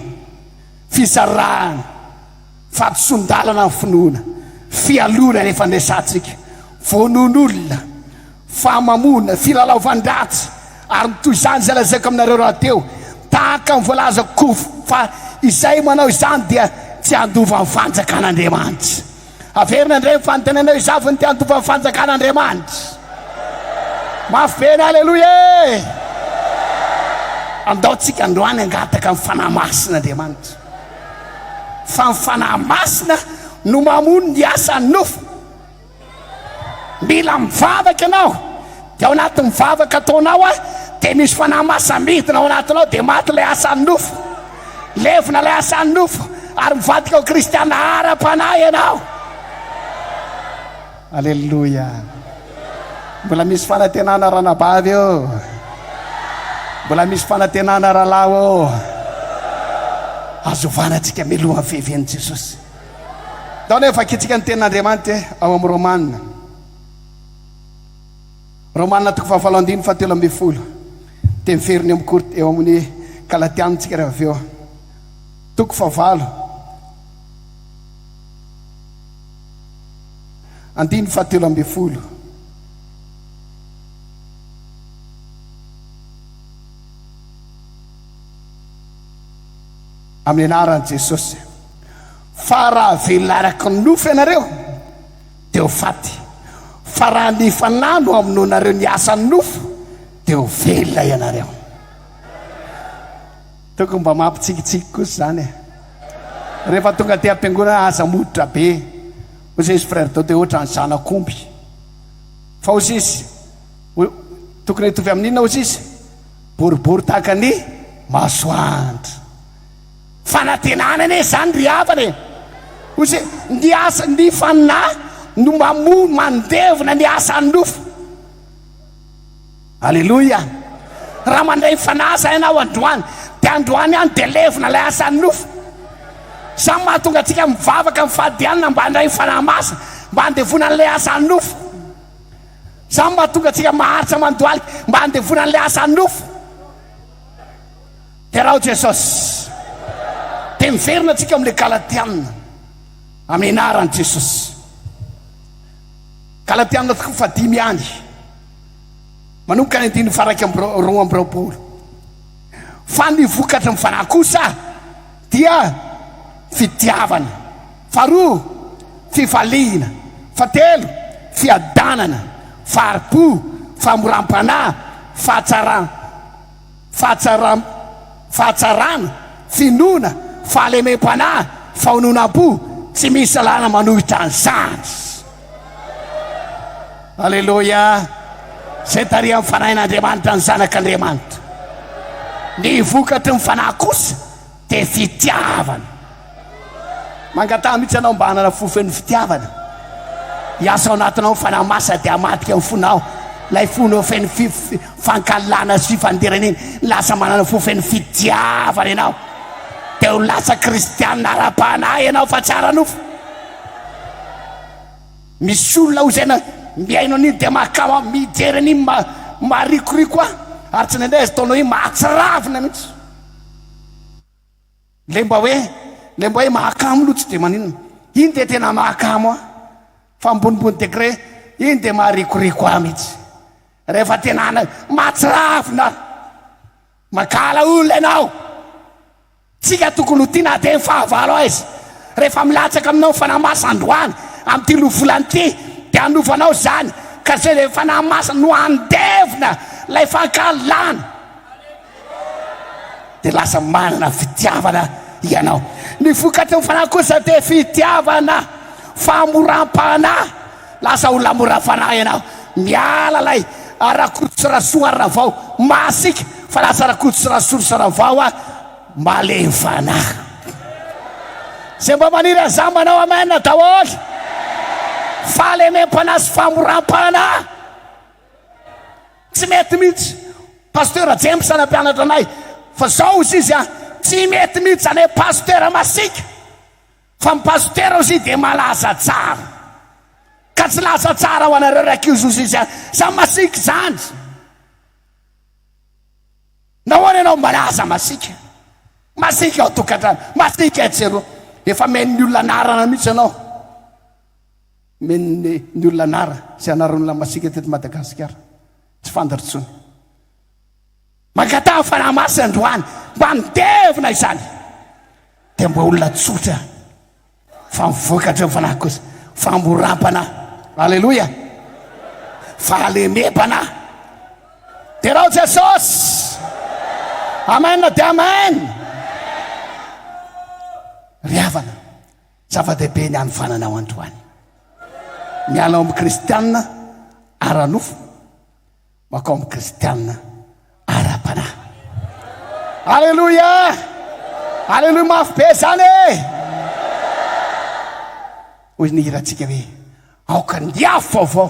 fizarana, Fahadisoan-dalana ny finoana, fialona rehefa niresahantsika, vonoan'olona, fahamamoana, filalaovan-dratsy, ary ny toy izany izay lazaiko aminareo rahateo, tahaka ny voalazako kof fa izay manao izany dia tsy handova ny fanjakan'Andriamanitra. Averina indray ny fanontanianao, iza avy no te handova ny fanjakan'Andriamanitra? Mafy be ny Aleloia e! Andaontsika androany hangataka ny Fanahy Masin'Andriamanitra. Fa ny Fanahy Masina no mamono ny asan'ny nofo. Mila mivavaka ianao, dia ao anatin'ny vavaka ataonao an, dia misy Fanahy Masina midina ao anatinao, dia maty ilay asan'ny nofo. Levona ilay asan'ny nofo, ary mivadika ho kristiana ara-panahy ianao. Aleloia! Mbola misy fanantenana ranabavy ô! Mbola misy fanantenana rahalahy ô! Azo ovana antsika miloha ny feheven'i Jesosy. Ndao anie vakintsika ny tenin'Andriamanitra ao amin'ny Romana. Romana toko fahafalo andiny fa telo ambin'ny folo. Dia miverina eo amin'ny kort eo amin'ny Galatiana antsika rehefa avy eo. Toko fahavalo. Andininy fahatelo ambin'ny folo. Amin'ny anaran'i Jesosy. Fa raha velona araka ny nofo ianareo, dia ho faty. Fa raha ny Fanahy no amonoanareo ny asan'ny nofo, dia ho velona ianareo. Tokony mba mampitsikitsiky kosa izany e! Rehefa tonga aty am-piangonana aza moditra be hoy sisy Frère Dode ohatran'ny zanak'omby fa hoy sisy tokony hitovy amin'ny inona hoy sisy? Boribory tahaka ny masoandro. Fanantenana anie izany ry havana e! Hoy sisy ny asa ny fanahy no mamono mandevona ny asan'ny nofo. Aleloia! Raha mandray ny Fanahy izay ianao androany, dia androany ihany dia levona ilay asan'ny nofo. Izany no mahatonga antsika mivavaka amin'ny fahadihanana mba handray ny Fanahy Masina, mba handevona an'ilay asan'ny nofo. Izany no mahatonga antsika maharitra mandohalika, mba handevona an'ilay asan'ny nofo. Deraho Jesosy. Dia miverina antsika amin'ilay Galatiana, amin'ny anaran'i Jesosy. Galatiana toko fahadimy ihany. Manomboka ny andininy faha iraika amby roa amby roapolo. Fa ny vokatry ny fanahy kosa dia fitiavana, faharoa, fifaliana, fahatelo, fiadanana, fahari-po, fahamoram-panahy, fahatsaram-. fahatsaram, fahatsarana, finoana, fahalemem-panahy, fahononam-po, tsy misy lalàna manohitra an'izany. Aleloia! Izay tarihan'ny Fanahin'Andriamanitra ny Zanak'Andriamanitra. Ny vokatry ny Fanahy kosa Dia fitiavana. Mangataha mihitsy ianao mba hanana fo feno fitiavana. Hiasa ao anatinao ny Fanahy Masina dia hamadika ny fonao. Ilay fonao feno fankahalana sy fifandirana iny, lasa manana fo feno fitiavana ianao. Dia ho lasa kristianina ara-panahy ianao fa tsy ara-nofo. Misy olona hoy izay na mihaino an'iny dia mahakama, mijery an'iny ma, maharikoriko ahy. Ary tsindraindray aza ataonao iny mahatsiravina mihitsy. Ilay mba hoe, ilay mba hoe mahakamo aloha tsy dia maninona. Iny dia tena mahakamo ahy. Fa ambonimbony degré, iny dia maharikoriko ahy mihitsy. Rehefa tena any, mahatsiravina aho. Mankahala olona ianao. Tsika tokony ho tia na dia ny fahavalo aiza. Rehefa milatsaka aminao ny Fanahy Masina androany, amin'ity lovolana ity, dia hanovanao izany. Ka izay dia Fanahy Masina no handevina ilay fankahalana. dia lasa manana fitiavana ianao. Ny vokatry ny fanahy kosa dia fitiavana, famoram-panahy, lasa olona mora fanahy ianao. Miala ilay Rakoto Rasoa Ravao masiaka fa lasa Rakoto Rasoa Ravao malemy fanahy. Izay mba maniry an'izany manao amen daholo. Fahalemem-panahy sy famoram-panahy. tsy mety mihitsy pasteur James any ampianatra anay fa zao izy izy a tsy mety mihitsy any pasteur masika fa ny pasteur izy dia malaza tsara ka tsy laza tsara ho anareo raiky izy izy izy a samy masika izany nahoana ianao malaza masika masika ao tokantrano masika etsy eroa efa men'ny olona anarana mihitsy ianao Men'ny ny olona anara sy anaran'olona masiaka teto Madagasikara. Tsy fantatro tsony. Mankataha fanahy masina androany mba handevina izany. Dia mba olona tsotra fa mivoaka hatreo fanahy kosa. Famoram-panahy. Aleloia. Fahalemem-panahy. Derao Jesosy. Amen dia amen. Ry havana, Zava-dehibe ny hanofanana ao androany. Miala ao amin'ny kristiana ara-nofo, makao amin'ny kristiana ara-panahy. Aleloia! Aleloia mafy be izany e! Hoy ny hirantsika hoe, aoka ny afo vaovao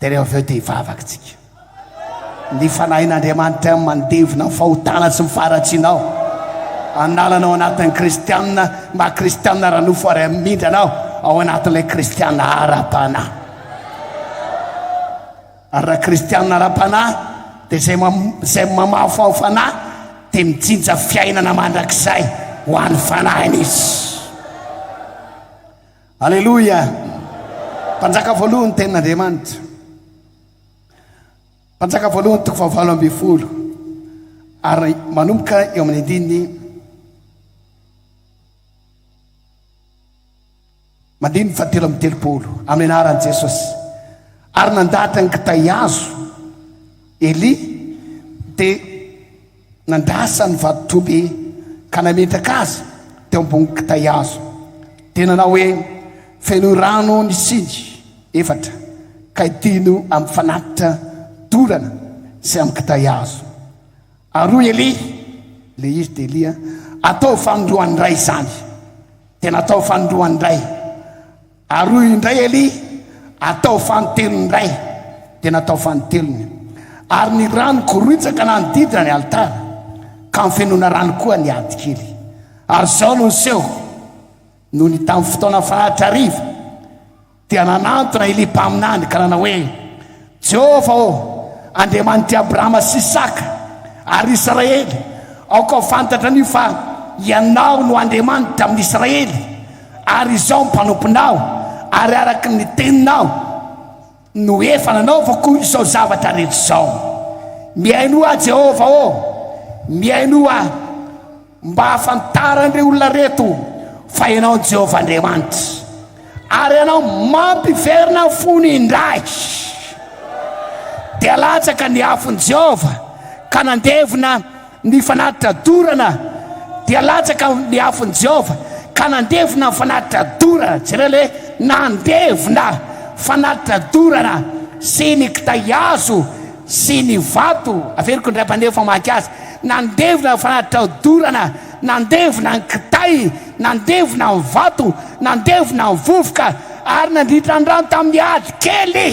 Dia rehefa avy eo dia hivavaka tsika. Ny fanahin'Andriamanitra amin'ny mandevina ny fahotana sy ny faharatsiana aho. An'alana ao anatin'ny kristianina, maha kristianina ara-nofo ary amin'indrana aho ao anatin'ilay kristianina ara-panahy. Ary raha kristianina ara-panahy dia izay izay mamafy ao fanahy dia mijinja fiainana mandrakizay ho an'ny fanahiny izy. Aleloia! Mpanjaka voalohan'ny tenin'Andriamanitra. Mpanjaka voalohany toko fahavalo ambin'ny folo ary manomboka eo amin'ny andininy mandininy fahatelo amin'ny telopolo amin'ny anaran'i Jesosy ary nandahatra ny kitay azo Elia dia Nandrasa ny vadin-trobe ka nametraka azy teo ambony kitay hazo. Dia nanao hoe, Fenoy rano ny siny efatra, ka idino amin'ny fanatitra dorana sy amin'ny kitay hazo. Ary hoy Elia, Ilay izy dia Elia, Ataovy fanindroany indray izany. Dia nataovy fanindroany indray. Aroy indray Elia, atao fanintelony indray, dia natao fanintelony. Ary ny rano koroitsaka nanodidina ny alitara, ka nifenoina rano koa ny adikely. Ary izao no niseho, nony tamin'ny fotoana fahatrariva, dia nanantona Elia mpaminany ka nanao hoe, Jehovah ô, Andriamanitry Abrahama sy Isaka ary Israely, aoka ho fantatra anio fa Ianao no Andriamanitra amin' Israely, ary izao mpanomponao, ary araka ny teninao no efa nanaovako izao zavatra rehetra izao. Mihainoa ahy, Jehovah ô, mihainoa ahy. Mba hahafantaran'ireto olona ireto fa ianao ny Jehovah Andriamanitra, ary ianao mampiverina ny fony indray. Dia latsaka ny afon'i Jehovah ka nandevona ny fanatitra dorana. Dia latsaka ny afon'i Jehovah ka nandevona ny fanatitra dorana. Jereo le nandevona fanatitra dorana sy ny kitay hazo. sy ny vato averiko indray mpandeha efa maika azy nandevina ny fanatitra odorana nandevina ny kitay nandevina ny vato nandevina ny vovoka ary nandritra ny rano tamin'ny ady kely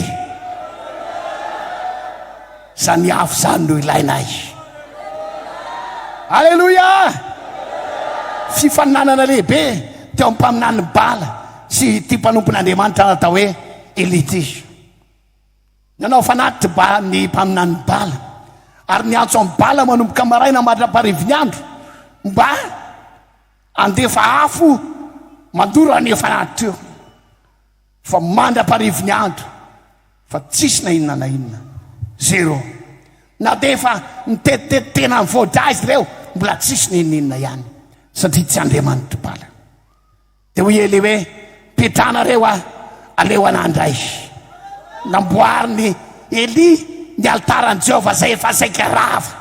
izany afo izany no ilainay aleloia fifaninanana lehibe teo amin'ny mpaminan'ny bala sy ity mpanompon'andriamanitra natao hoe elity Nanao fanatitra ba ny mpaminany Bala, ary niantso an'i Bala manomboka maraina mandra-parivin'ny andro, mba handefa afo mandoro an'io fanatitra io, fa mandra-parivin'ny andro, fa tsisy na inona na inona. Zéro. Na dia efa nitetitety tena ny voa-drà izy ireo, mbola tsisy na inona na inona ihany, satria tsy Andriamanitr'i Bala. Dia hoy Elia hoe, Petrahanareo aho, aleo anà indray. Namboarin'i Elia ny alitaran'i Jehovah izay efa saika rava.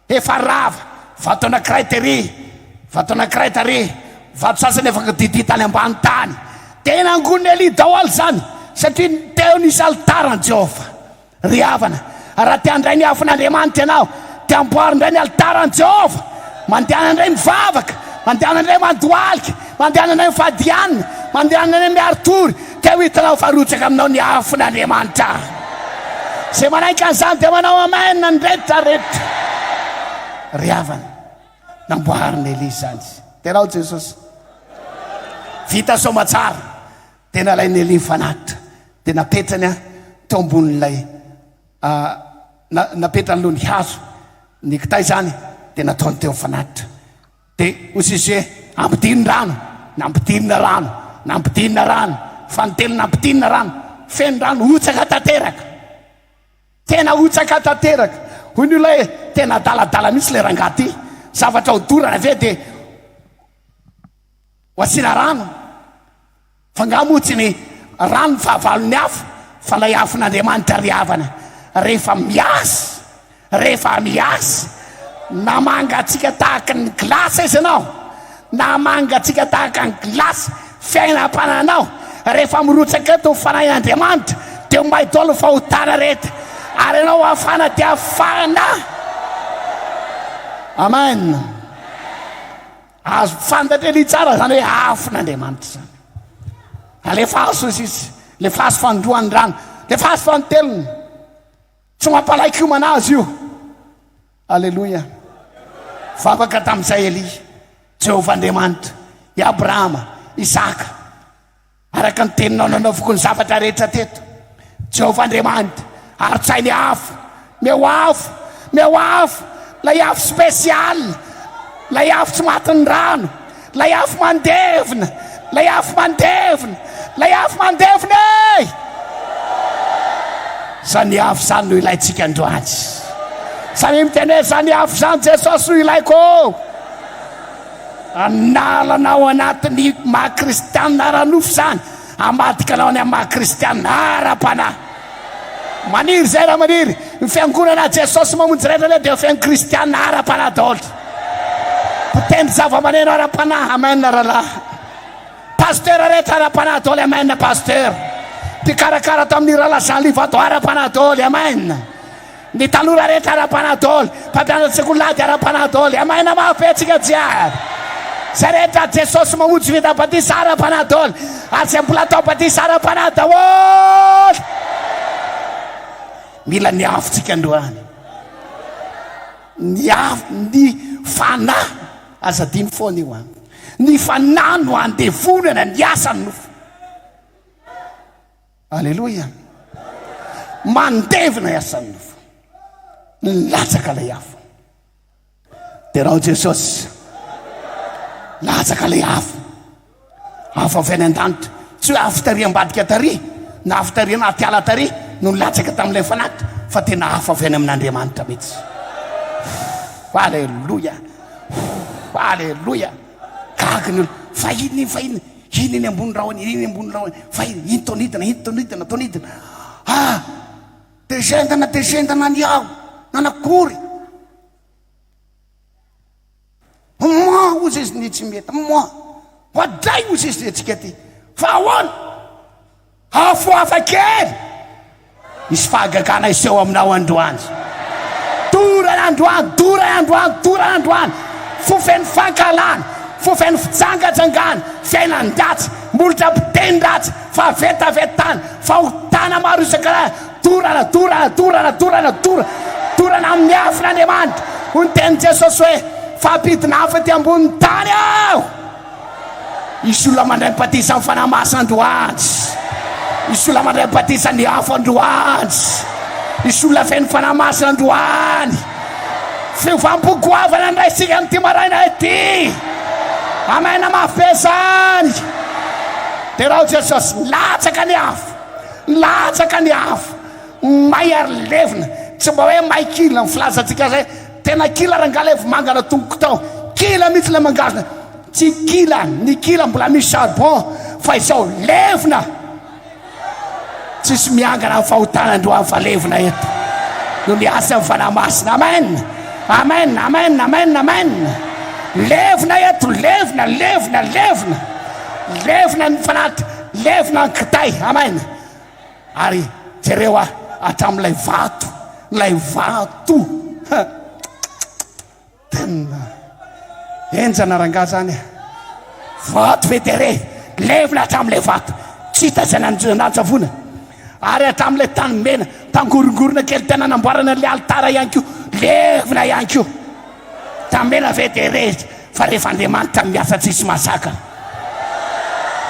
Efa rava, vato anankiray tery, vato anankiray tary, vato sasany efa kodidia tany ambany tany. Dia nangonin'i Elia daholo izany, satria teo nisy alitaran'i Jehovah. Ry havana, raha te handray ny afon'Andriamanitra ianao, dia amboary indray ny alitaran'i Jehovah. Mandehana indray mivavaka, mandehana indray mandohalika, mandehana indray mifadianina, mandehana indray miari-tory, dia ho hitanao fa harotsaka aminao ny afon'Andriamanitra. Izay manaiky an'izany dia manao amen ny rehetra rehetra. Ry havana, namboarin'i Elia izany. Dia ianao Jesosy. Vita soamantsara. Dia nalain'i Nelly ny fanatitra, dia napetrany teo ambonin'ilay, na, napetrany aloha ny hazo, ny kitay izany, dia nataony teo ny fanatitra. Dia hoy Jésus, Ampidino rano! Nampidinina rano! Nampidinina rano! Fa ny teny nampidinina rano, feno rano, hotsaka tanteraka! Tena hotsaka tanteraka! Hoy ny olona hoe, Tena adaladala mihitsy ilay rangahy ity! Zavatra hodorana ve dia. Wasila rano fa nga moa tsy ny rano ny fahavalon'ny afo fa lay afon'Andriamanitra ry havana rehefa miasy rehefa miasy na mangatsiaka tahaka ny glace izy anao na mangatsiaka tahaka ny glace fiainam-pananao rehefa mirotsaka eto fanahin'Andriamanitra dia ho may dolo fahotana rehetra ary ianao hafana dia hafana amen Azo fantatra anie tsara izany hoe afon'Andriamanitra izany. Alefaso izy izy, lefaso fanindroan'ny rano, lefaso fanintelony. Tsy mampalaiky homana azy io. Aleloia. Vavaka tamin'izay Elia, Jehovah Andriamanitra, i Abrahama, Isaka, Araka ny teninao, nanaoviko ny zavatra rehetra teto, Jehovah Andriamanitra, ary-tsahy ny afo, ny eo afo, ny eo afo, ilay afo spéciale, ilay afo tsy matin'ny rano, ilay afo mandevona, ilay afo mandevona, ilay afo mandevona e! Izany afo izany no ilaintsika androany. Samia miteny hoe, izany afo izany Jesosy no ilaiko. Hanala anao anaty ny maha kristianina ara-nofo izany, hamadika anao any amin'ny maha kristianina ara-panahy. Maniry izay raha maniry. Ny fiangonana Jesosy Mamonjy rehetra anie dia feno kristianina ara-panahy daholo. Mpitendry zava-maneno ara-panahy, amen rahalahy. Pasitera rehetra ara-panahy daholo, amen pasitera. Mpikarakara ato amin'ny rahalahy Jean Livato ara-panahy daholo, amen. Ny tanora rehetra ara-panadoly, mpampianatra sekoly lahy dia ara-panadoly, amay na mafy antsika jiaby. Izay rehetra Jesosy mamonjy vita batisa ara-panadoly, ary izay mbola atao batisa ara-panahy daholo. Mila ny afo tsika androany. Ny afo, ny fanahy, aza adino foana io an. Ny fanahy no andevonana ny asan'ny nofo. Aleloia! Mandevina i asan'ny nofo. Nilatsaka ilay afo. Derao Jesosy. Latsaka ilay afo. Afo avy any an-danitra. Tsy hoe afo tary ambadika tary na afo tary anaty ala tary no nilatsaka tamin'ilay fanaty fa tena afo avy any amin'Andriamanitra mihitsy. Aleloia. Aleloia. Gaga ny olona. Fahiny, fahiny. Heny eny ambony rahona, heny eny ambony rahona, fa intonidina, intonidina, tonidina. Ah! Dia zendana, dia zendana ny aho, nanakory. Moa, hozy izy, ny tsy mety, moa. Oadray, hozy izy, ny antsika aty. Fa ahoana? Afo hafa kely! Misy fahagagana hiseho aminao androany. Dorana androany, dorana androany, dorana androany! Fo feno fankahalana, fo feno fijangajangana, fiainan-dratsy, molotra mpiteny ratsy, fahavetavetana, fahotana maro isan-karazany. Dorana, dorana, dorana, dorana, dorana! Dorana amin'ny afon' Andriamanitra! Hoy ny tenin'i Jesosy hoe, Fampidina afo ety ambonin'ny tany aho! Hisy olona mandray ny batisan'ny Fanahy Masina androany. Hisy olona mandray ny batisan'ny afo androany. Hisy olona feno Fanahy Masina androany. Fiovampo goavana ny raisintsika amin'ity maraina ity. Amen, mafy be zany. Derao Jesosy, milatsaka ny afo. Milatsaka ny afo. May ary levona. Tsy mba hoe may kila ny filazantsika zay. Tena kila rangahy ilay vomanga natomboko tao, kila mihitsy ilay mangasina, tsy kila ny kila mbola misy charbon fa izao levona, tsisy miangana amin'ny fahotana androany fa levona eto no ny asa amin'ny Fanahy Masina, amen, amen, amen, amen, amen, levona eto, levona, levona, levona, levona ny fanahy, levona ny kitay, amen. Ary jereo aho hatramin'ilay vato, ilay vato ha tena enjana rangaha izany e, vato federe, levona hatramin'ilay vato, tsy hita izay nanjavona, ary hatramin'ilay tany mena, tangorongorona kely tena namboarana an'ilay alitara ihany koa, levona ihany koa. Tamela ve dia re fa rehefa Andriamanitra no miasa tsisy mahazaka?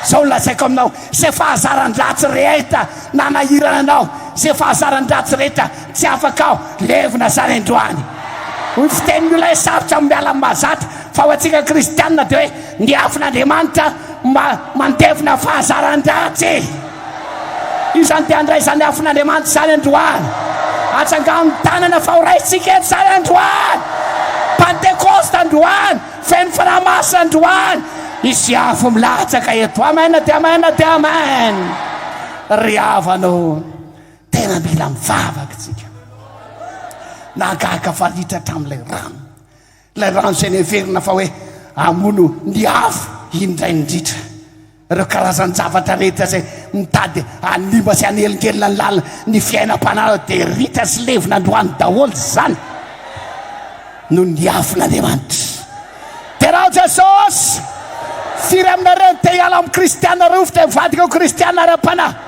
Zao no lazaiko aminao, ze fahazaran-dratsy rehetra nanahirana anao, ze fahazaran-dratsy rehetra tsy afaka aho, levona zany androany. Ny fitenin'ny olona hoe sarotra ny miala amin'ny mahazatra, fa ho antsika kristianina dia hoe ny afon'Andriamanitra mandevona fahazaran-dratsy. Izany dia handray izany afon'Andriamanitra izany androany. Atsangano ny tanana fa ho raisintsika eto izany androany. Pantekosta androany, feno Fanahy Masina androany. Hisy afo milatsaka eto. Amen dia amen dia amen. Ry havana ô, tena mila mivavaka isika. Nahagaga fa litra hatramin'ilay rano. Ilay rano izay neverina fa hoe hamono ny afo indray indrindra. Ireo karazan-javatra rehetra izay mitady hanimba sy hanelingelina ny lalina ny fiainam-pananao dia ritra sy levona androany daholo izany noho ny afon'Andriamanitra. Tena Jesosy, firy aminareo no te hiala amin'ny Kristiana rovitra hivadika ho Kristiana ara-panahy?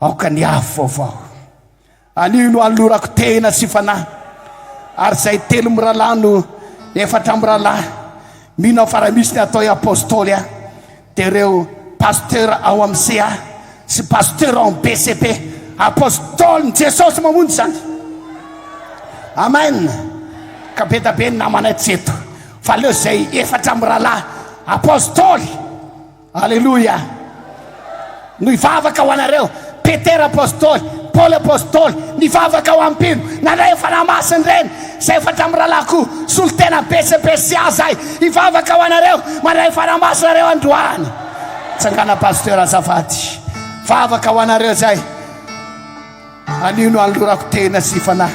Aoka ny afo vaovao anio no anolorako tena sy fanahy ary izay telo mirahalahy no efatra mirahalahy mino aho fa raha misy ny atao hoe apôstôly aho dia ireo pasteur ao amin'ny CA sy pasteur ao amin'ny BCP apôstôly ny Jesosy mamonjy izany Amen ka be da be ny namanay tsy eto fa aleo izay efatra mirahalahy apôstôly Aleloia! No hivavaka ho anareo, Petera Apostoly, Paoly Apostoly, nivavaka ho an'i mpino, nandray ny Fanahy Masina ireny, izay efa hatramin'ny rahalahy koa, solon-tena be sy be sy aza ahy, hivavaka ho anareo, mandray ny Fanahy Masina nareo androany. Tsangana Pasteur azafady, vavaka ho anareo izay, anio no anolorako tena sy fanahy.